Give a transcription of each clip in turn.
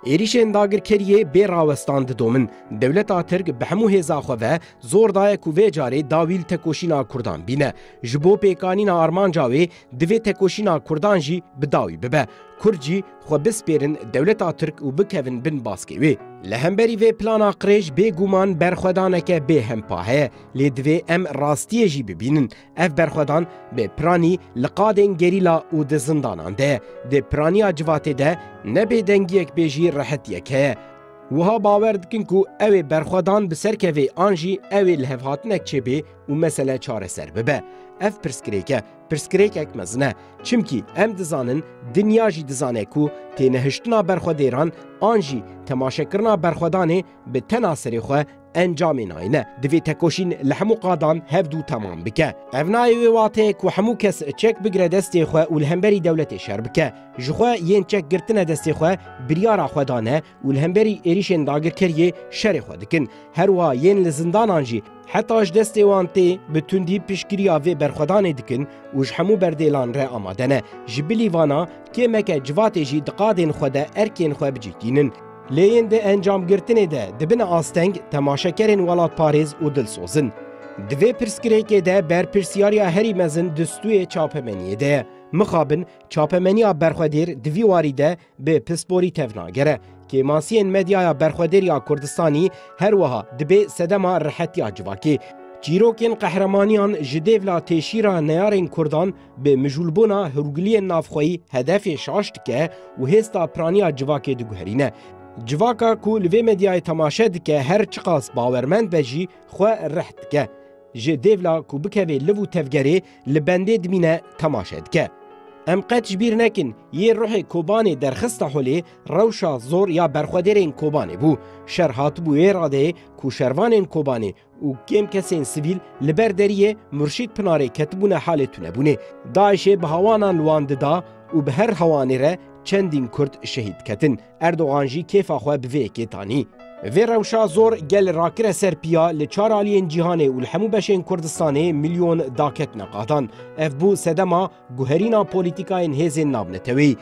Êrîşên dagirkeriyê bê rawestan didomin. Dewleta Tirk bi hemû hêza xwe ve zor daye ku vê carê dawî li tekoşîna Kurdan bîne. Ji bo pêkanîna armanca wê divê tekoşîna Kurdan jî bi dawî bibe. Kurd jî xwe bispêrin dewleta Tirk û bikevin bin baskê wê. Li hemberî vê plana qirêj bêguman berxwedaneke bêhempa heye. Lê divê em rastiyê jî bibînin. Ev berxwedan bi piranî li qadên gerîla û di zindanan de, di piraniya civatê de ne bêdengiyek bê jî rehetiyek heye. Wiha bawer dikin ku ew ê berxwedan bi ser keve an jî ew ê lihevhatinek çêbê û mesele çareser bibe. Ev pirsgirêk e, pirsgirêkek mezin e. Çimkî em dizanin, dinya jî dizane ku tênehiştina berxwedêran an jî temaşekirina berxwedanê bi tena serê xwe Encamê nayê ne, divê tekoşîn li hemû qadan hevdû temam bike. Ev nayê wê wateyê ku hemû kes çek bigire destê xwe û li hemberî dewletê şer bike. Ji xwe yên çek girtine destê xwe biryara xwe dane û li hemberî êrîşên dagirkeriyê şerê xwe dikin. Her wiha yên li zindanan jî heta ji destê wan tê bi tundî piştgiriya vê berxwedanê dikin û ji hemû berdêlan re amade ne. Ji bilî vana kêmeke civatê jî di qadên xwe de erkên xwe bicîhtînin. Lêyên di encamgirtinê de dibin asteng, temaşekerên welatparêz û dilsoz in. Di vê pirsgirêkê de berpirsyariya herî mezin di stûyê çapemeniyê de ye. Mixabin çapemeniya berxwedêr di vî warî de bi pisporî tevnagere. Kêmasiyên medyaya berxwedêr ya Kurdistanî her wiha dibê sedema rihetiya civakê, çîrokên qehremaniyan ji dêvla têşîra neyarên Kurdan, Bi mijûlbûna hûrgiliyên navxweyî hedefê şaş dike û hêsta piraniya civakê diguherîne. Civaka ku li vê medyayê temaşe dike her çiqas bawermend be jî xwe rih dike. Ji dêvla ku bikevê liv û tevgerê li bendê dimîne temaşe dike. Em qet ji bîr nekin yê ruhê Kobanê derxista holê rewşa zor ya berxwedêrên Kobanê bû. Şer hatibû wê radeyê ku şervanên Kobanê û kêm kesên sivîl li ber deriyê Murşîd Pinarê ketibûne halê tunebûnê. DAIŞ'ê bi hewanan li wan dida û bi her hewanê re çendîn Kurd şehîd diketin. Erdogan jî kêfa xwe bi vê yekê danî. Vê rewşa zor gel rakire ser piya li çar aliyên cîhanê û li hemû beşên Kurdistanê milyon da ketine qadan. Ev bû sedema Guherîna polîtîkayên hêzên navneteweyî,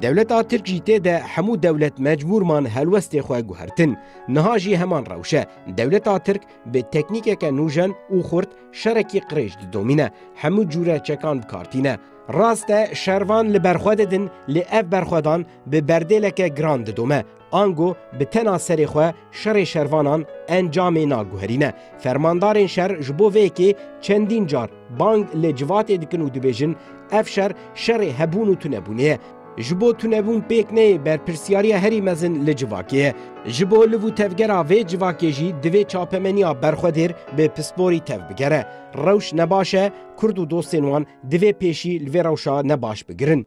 dewleta Tirk jî tê de hemû dewlet mecbûr man helwestê xwe guhertin. Niha jî heman rewş e. Dewleta Tirk bi teknîkeke nûjen û xurt şerekî qirêj didomîne, hemû cûre çekan bi kar tîne. Rast e şervan li ber xwe didin lê ev berxwedan bi berdêleke giran didome. Ango bi tena serê xwe şerê şervanan encamê naguherîne. Fermandarên şer ji bo vê yekê çendîn car bang li civatê dikin û dibêjin ev şer şerê hebûn û tunebûnê ye. Ji bo tunebûn pêk neyê berpirsiyariya herî mezin li civakê ye. Ji bo liv û tevgera vê civakê jî divê çapemeniya berxwedêr bi pisporî tev bigere. Rewş nebaş e, kurd û dostên wan divê pêşî li vê rewşa nebaş bigirin.